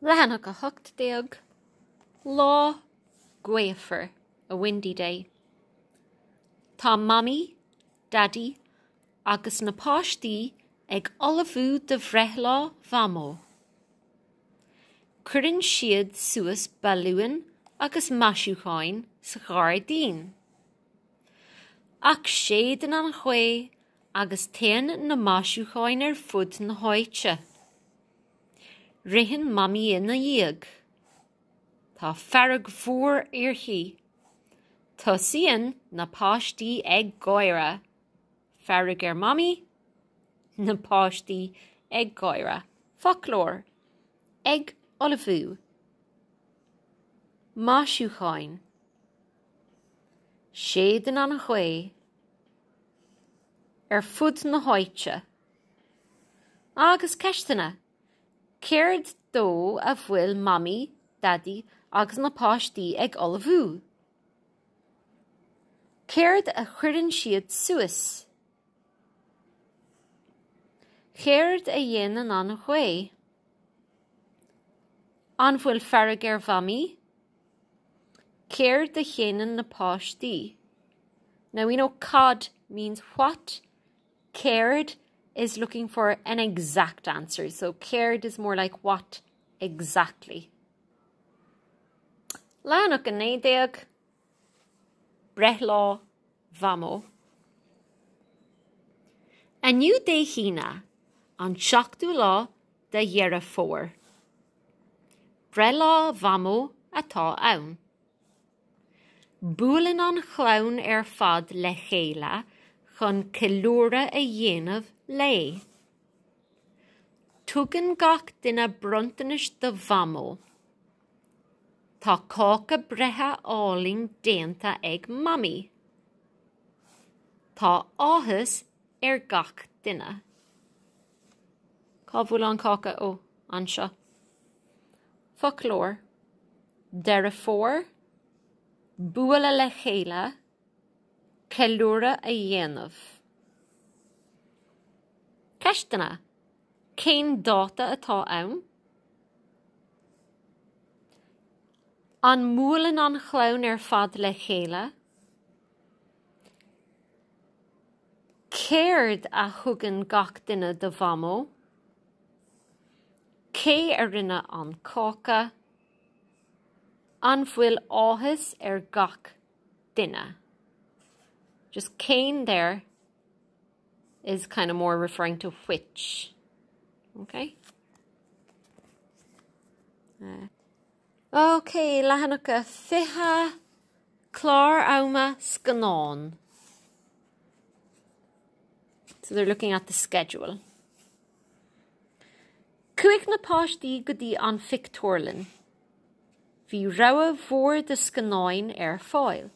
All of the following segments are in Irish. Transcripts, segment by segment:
Leathanach 18, Lá gaofar, a windy day. Tá Mamaí, Daidí agus na páistí ag ullmhú do bhreithlá Mhamó. Cuireann siad suas balúin agus maisiúcháin sa ghairdín. Ach séideann an ghaoth agus téann na maisiúcháin ar fud na háite. Ritheann Mamaí ina dhiaidh. Tá fearg mhór uirthi. Tosaíonn na páistí ag gáire. Fearg ar Mhamaí? Na páistí ag gáire. Foclóir. ag ullmhú. maisiúcháin. Séideann an ghaoth. ar fud na háite. Agus ceisteanna, céard dó a bhfuil Mamaí, Daidí agus na páistí ag ullmhú? Céard a chuireann siad suas? Céard a dhéanann an ghaoth? An bhfuil fearg ar Mhamaí? Céard a dhéanann na páistí? Now we know cad means what, céard is looking for an exact answer, so céard is more like what exactly. Leathanach 19, Breithlá Mhamó. Inniu Dé hAoine, an seachtú lá de Dheireadh Fómhair. Breithlá Mhamó atá ann. Buaileann an chlann ar fad le chéile chun ceiliúradh a dhéanamh léi. Tugann gach duine bronntanais do Mhamó. Tá cáca breithe álainn déanta ag Mamaí. Tá áthas ar gach duine. Cá bhfuil an cáca? Ó, anseo. Foclóir, Deireadh Fómhair, bualadh le chéile, ceiliúradh a dhéanamh. Ceisteanna, Cén dáta atá ann? An mbuaileann an chlann ar fad le chéile? Céard a thugann gach duine do Mhamó? Cé a rinne an cáca? An bhfuil áthas ar gach duine? Just cén there is kind of more referring to which. Okay? OK, leathanach a fiche, clár ama scannán. So they're looking at the schedule. Chuaigh na páistí go dtí an phictiúrlann. Bhí rogha mhór de scannáin ar fáil.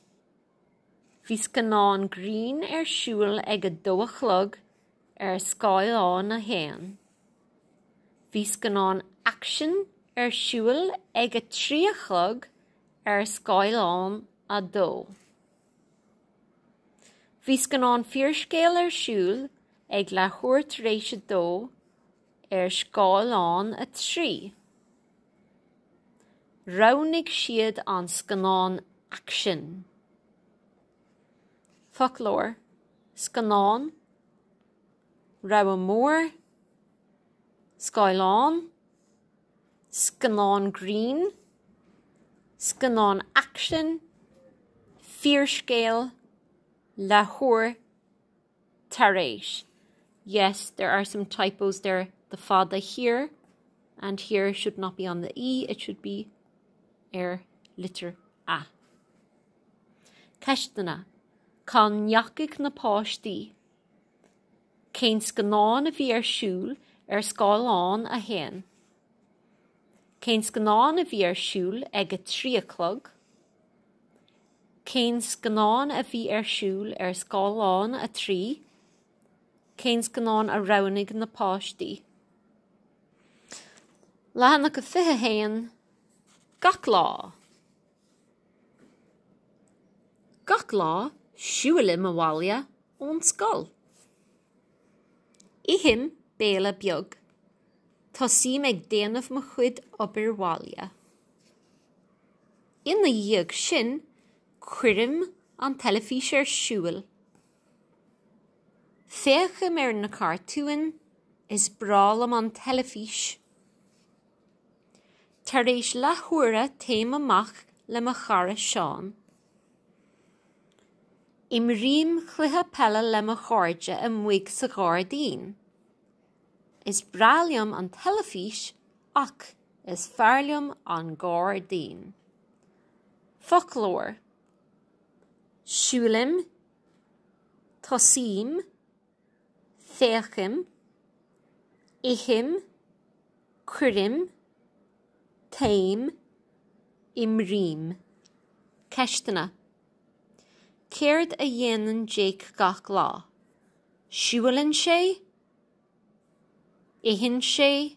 Bhí scannán grinn ar siúl ag a dó a chlog ar scáileán a haon. Bhí scannán aicsin ar siúl ag a trí a chlog ar scáileán a dó. Bhí scannán fíorscéil ar siúl ag leathuair tar éis a dó ar scáileán a trí. Roghnaigh siad an scannán aicsin. Foclóir, scannán, rogha mór, scáileán, scannán grinn, scannán aicsin, fíorscéal, leathuair, tar éis Yes, there are some typos there the fada here and here should not be on the e, it should be ar litir a. Ceisteanna, Cá ndeachaigh na páistí? Cén scannán a bhí ar siúl ar scáileán a haon? Cén scannán a bhí ar siúl ag a trí a chlog? Cén scannán a bhí ar siúl ar scáileán 3? Cén scannán a roghnaigh na páistí? Leathanach a 21, Gach lá Gach lá, siúilim abhaile ón scoil. Ithim béile beag. Tosaím ag déanamh mo chuid obair bhaile. Ina dhiaidh sin, cuirim an teilifís ar siúl. Féachaim ar na cartúin, is breá liom an teilifís. Tar éis leathuaire téim amach le mo chara Seán. Imrím cluiche peile le mo chairde amuigh sa ghairdín. Is breá liom an teilifís ach. Is fearr liom an gairdín. Foclóir, siúlaim, tosaím, féachaim, ithim, cuirim, téim, imrím. Ceisteanna, Céard a dhéanann Jake gach lá? Siúlann sé? Itheann sé?